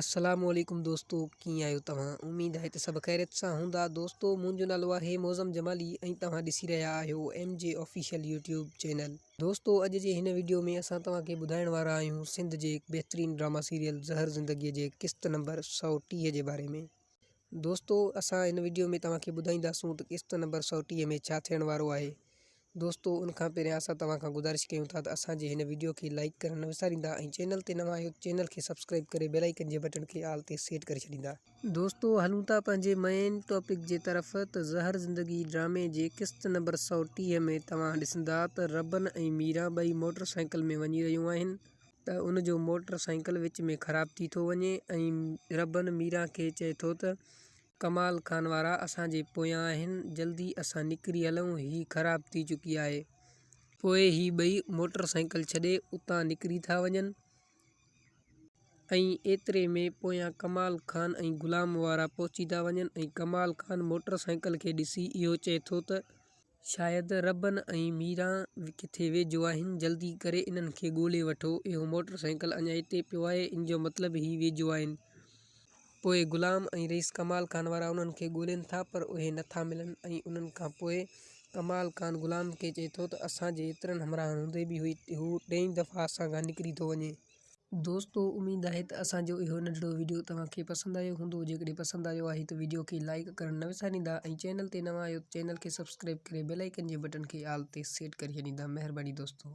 السلام عليڪم دوستو ڪيئن آهيو توهان اميد آهي ته سڀ خيريت سان هوندا دوستو منهنجو نالو آهي معظم جمالي ۽ توهان ڏسي رهيا آهيو M G official YouTube channel دوستو اڄ جي هن وڊيو ۾ اسان توهان کي ٻڌائڻ وارا آهيون سنڌ جي بهترين ڊراما سيريل زهر زندگي جي قسط نمبر سؤ ٽيهه جي باري ۾. دوستو اسان هن وڊيو ۾ توهان کي ٻڌائينداسون ته قسط نمبر سؤ ٽيهه ۾ ڇا ٿيڻ وارو آهي. دوستو ان کان پهريان اسان توهان کان گذارش ڪيون ٿا ته اسان جي هن وڊيو کي لائيڪ ڪرڻ نه وساريندا ۽ چينل تي نوان آهيو ته چينل کي سبسڪرائيب ڪري بيل آئيڪن جي بٽڻ کي آل تي سيٽ ڪري ڇڏيندا. دوستو هلون ٿا پنهنجي مئين ٽاپڪ جي طرف ته زهر زندگي ڊرامي جي قسط نمبر سؤ ٽيهه ۾ توهان ڏسندا ته ربن ۽ ميران ٻئي موٽر سائيڪل ۾ وڃي رهيون آهن. ته ان جو موٽر سائيڪل وچ ۾ خراب ٿي ٿو وڃي ۽ ربن ميران کي چئي ٿو ته، ڪمال خان وارا اسان جي پويان آهن، جلدي اسان نڪري هلون، هي خراب ٿي چڪي آهي. پوء هي ٻئي موٽر سائيڪل ڇڏي اتان نڪري ٿا وڃن ۽ ايتري ۾ پويان ڪمال خان ۽ غلام وارا پهچي ٿا وڃن ۽ ڪمال خان موٽر سائيڪل کي ڏسي اهو چئي ٿو ته، شايد ربن ۽ ميرا ڪٿي ويجهو آهن. جلدي ڪري انهن کي ڳولي وٺو. اهو موٽر سائيڪل اڃا اتي پيو آهي. ان جو مطلب هي ويجهو آهن. پوء غلام ۽ رئيس ڪمال خان وارا انهن کي ڳولين ٿا پر اهي نه ٿا ملن ۽ انهن کان پوء ڪمال خان غلام کي چئي ٿو ته اسان جي ايترن همراهن هوندي به هو ٽئين دفعي اسان کان نڪري ٿو وڃي. دوستو اميد آهي ته اسان جو اهو ننڍڙو ويڊيو توهان کي پسند آيو هوندو جيڪڏهن پسند آيو آهي ته ويڊيو کي لائيڪ ڪرڻ نه وساريندا ۽ چينل تي نوان آهيو ته چينل کي سبسڪرائيب ڪري بيل آئيڪن جي بٽڻ کي آل تي سيٽ ڪري ڇڏيندا مهرباني دوستو.